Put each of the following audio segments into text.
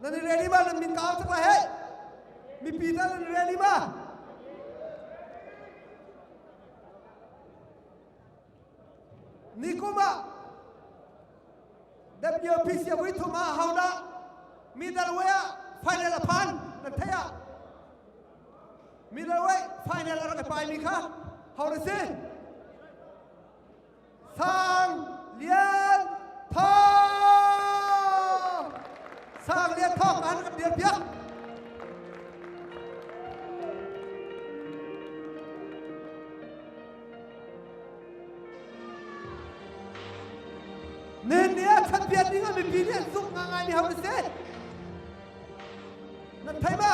Nan i reli ma? Nan min ka au tuk la hei! Mipi tal nan reli ma? Nikum ah WPC vui thum ah hau dah middle way ah final a phan nan thei ah middle way final a rak i pai mi kha hau na si Sang Lian Thawng Sang Lian Thawng an rak dir piak Nin nih a chan pian ding ah mipi nih an zumh hna ngai mi ho a si na thei ma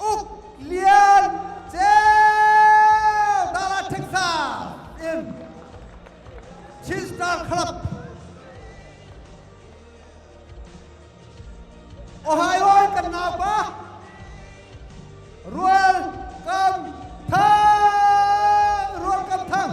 Uk Lian Ceu Dala Thingsa in Chin Star Club Ohio kan naupa Rual Kam Thang Rual Kam Thang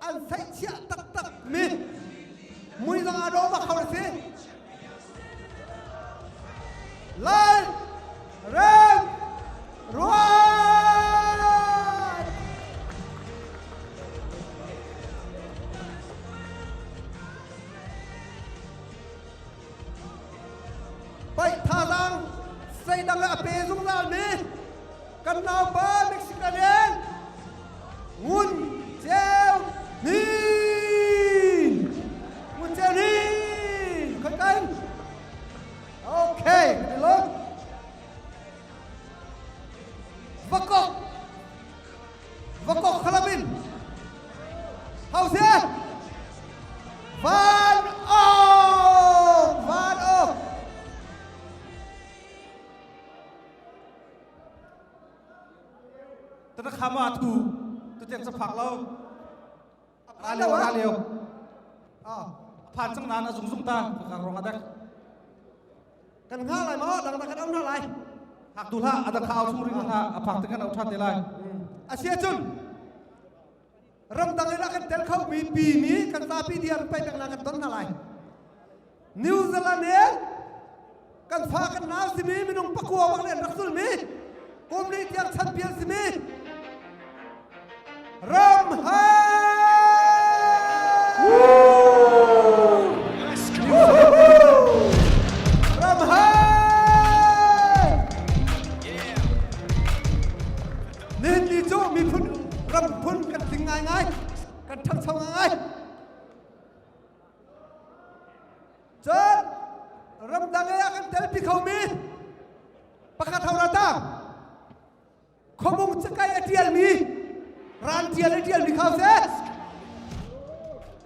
an seihchiah taktakmi muizang ah dawh bak hau si Lal Rem Ruan paih thazang seidang a pe zungzalmi kan naupa Mexican Ngun Ceu Hnin Ngun Ceu Hnin khoi kan okay ti lo vakok vakok khalamin hause van Tatakham ah thu tatiang sa phak lo ra leo ra leo a phan cang nan a zung zung ta ka rong adek kan nga lai ma dang da kan am ra lai hak du la ada khao chung ring ha a phak te kan au tha te lai asia chun ramdang in a kan tel khomi pi nih kan vapi dia run paih peng lai kan ton hna lai new zealand in kan fa kan nau simi minung pakua bak len rak zulmi kum li tiang champion simi ram ha ram ha Nihin cu miphun ram phun kan tling ngaingai, kan ṭhangcho ngaingai. Cun ramdang ei ah kan telpi khomi pakhat hau rata khuamung cakai a ṭialmi ran ṭial i ṭialmi kha seh.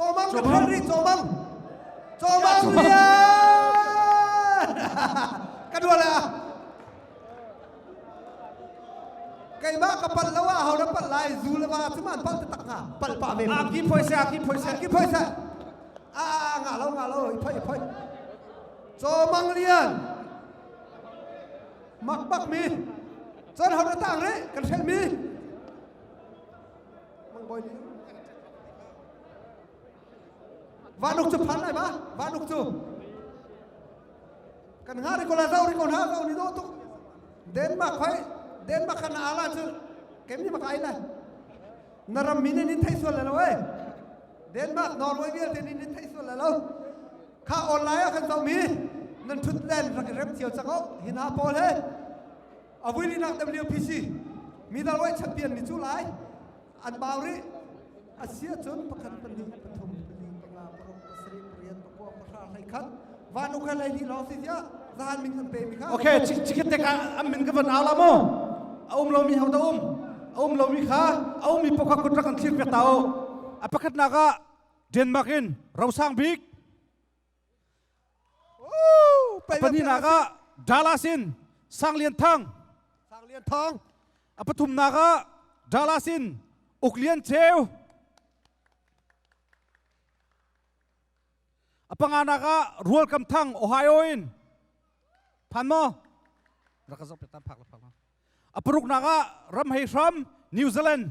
Cawmang na phang rih cawmang cawmang lian ka dual ah keimah ka pal lo ah hau na pal lai zu le va cu man pal te tak nga pal pa men a ki phoi se a ki phoi se ki phoi se a a nga lo nga lo i phoi i phoi cawmang lian mak bak mi cun hau na tang re kan hrel mi Vanuk cu phan lai ba vanuk cu kan nga ri kola zau ri ko na zau ni do tuk Denmark hoi Denmark kan ala cu kemi maka ai lai na ram min ni thai sual lo eh Denmark Norway vialte ni ni thai sual lo kha online ah kan zau mi nan thut len rak rem thiêu chang ho hina paul he Avui ni nak WPC midal wei champion mi cu lai an mau ri asia cun pakhat pahnih pathum pahnih panga paruk pasarih pariat pakua pahra hlei khat van ukai lei ni lawng si tia zahan min kan pe mi kha okay cikit te ka am min ka von au la mo aum lo mi hau da um aum lo mi kha aum mi pokha kutra kan thlir pe tao a pakhat na ka denmark in rosang bik Pahnihnak ah Dallas in Sang Lian Thang. Sang Lian Thang. A pathumnak ah Dallas in Uk Lian Ceu. A panganak ah Rual Kam Thang Ohio in phan maw rak ka zok piatan phak la phak ma a paruknak ah Ram Hei Hram New Zealand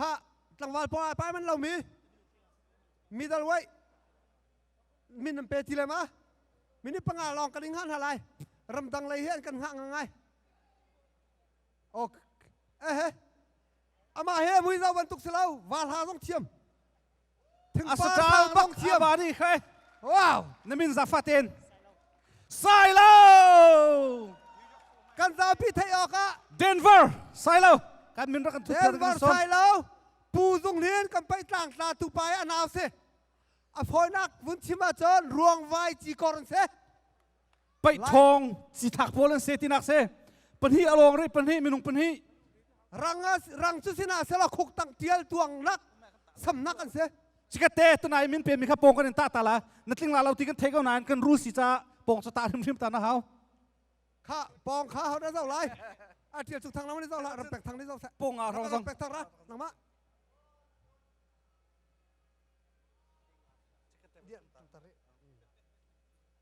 kha tlangval pawng ah pai man lo mi middle weight min an pe ti le ma minute panga lawng kan in hngah hna lai ramdang lei hi kan hngah ngai ok eh amah he mui zo bantuk si lo val ha zong thiam asachal bak thiaba ni khai wow namin zafaten sailo kan zapi thei ok a denver sailo kan min ra kan thu denver sailo pu zung hin kan pai tlang tla tu pai anau se a phonak vun chima chon ruang vai chi korn se paih ṭhawng si thak pawl an se tinak se pahnih a lawng re pahnih minung pahnih rang rang cu sinah sela khuk tang tial tuang nak samnak an se cikate tunai min pe mi kha pong kan in ta tala na tling la lo ti kan thei ko nain kan rul si ca pong sa ta hrim hrim ta na hau kha pong kha hau da zo lai a tial chu thang lam ni zo la ram pek thang ni zo sa pong a rong zong pek thang ra nangma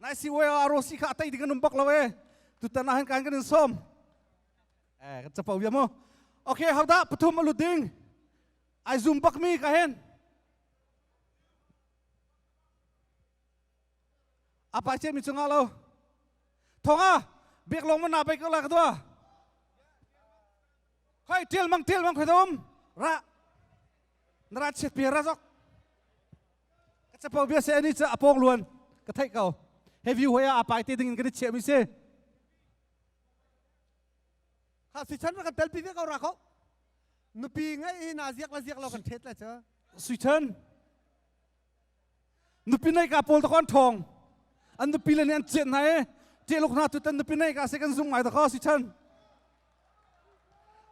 nai si oi a rosi kha atei ding an um bak lo e tutan ah kan kan in som eh kan chapo ya mo okay hau da pathum alu ding ai zoom bak mi ka hen apa che mi chunga lo thonga bek long man na bai ka la ka dwa khoi til mang til mang khoi dom ra nara chet pe ra jok ka capo bia se ani cu a pawng luan ka theih ko he view hoi ah a pai te ding in kan i chiah mi si ha si chan kan tel pi ve ko ra ko nupi ngai i na ziak la ziak lo kan thet la cha sui chan nupi nei ka pol ta kon thong an nupi le ni an chiat na e te lok na tu tan nupi nei ka se kan zum ngai ta ko si chan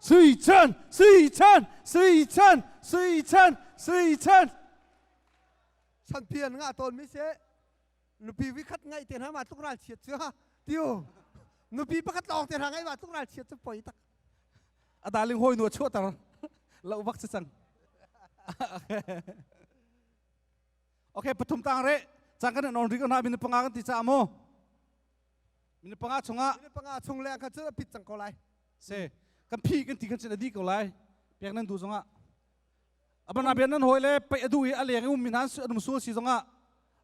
Sui Chan, Sui Chan, Sui Chan, Sui Chan, Sui Chan. Sanpi an ngah tawn mi se nupi vikhat ngai te na ma tluk ral chiat cu ha tiu nupi pakhat lawng te na ngai ma tluk ral chiat cu poi tak adaling hoi nu chuah tar lo bak se sang okay pathum tang re chang kan non ri ko na bin panga kan ti cha mo minute panga chungah minute panga chung leng khan cun a pit cang ko lai se kan phi kan ti khan cun a di ko lai pek nan du zongah abana ben nan hoi le pei adu i aleng um min han anum su si zongah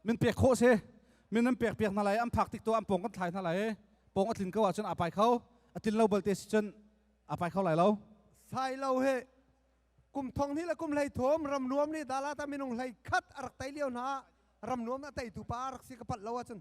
min pek kho se min nan pek pek hna lai am phak tik to am pong kan thlai hna lai pong a tlin ko ah cun apai kho atin lo balte si cun apai kho lai lo sai lo he kum thong ni la kum hlei thom ram nuam ni dala ta minung hlei khat arak tai liao na ram nuam na tai tu pa arak si ka pat lo a cun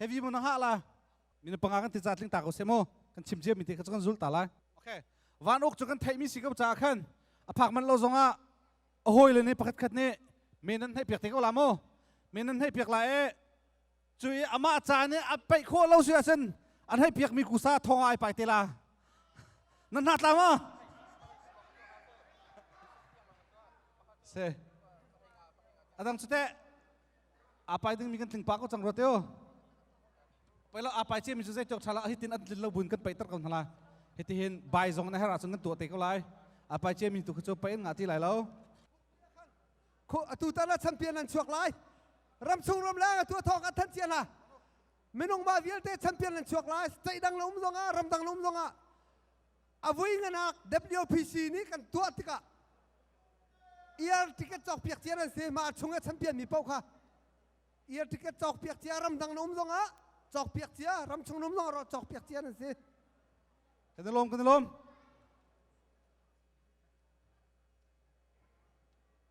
Hevi mu na ha la min panga kan ti cha tling ta ko se mu kan chim cia mi te kha kan zul ta lai okay van uk chu kan thei mi si ko cha khan aphak man lo zong ah a hoi le ne pakhat khat ne men nan hei piak te ko la mu men nan hei piak la e cu i ama cha ne a peih kho lo si asen an hei piak mi kusa thong ai pai te la nan hna tla ma se adang cu te apai dingmi kan tlingpa ko cang rua teo poi lo apai ce mi cu zeitok thala hitin an tlin lo buin kan peiter ko hnala hiti hin bai zong na her ahcun kan tuah te ko lai apai ce mi tu khu cu pei an ngati lai lo khu atu tan ah champion an chuak lai ram chung ram leng atu thawng an than cia hna minung ma vialte champion an chuak lai state dang lo um zong ah ram dang lo um zong ah avui nganak WPC nih kan tuah tikah Iar ticket cawk piak cia an si mah a chung a champion mi paoh kha iar ticket cawk piak cia ram dang na um zong ah cawk piak cia ram chung na um zong ah cawk piak cia an si kan i lawm kan i lawm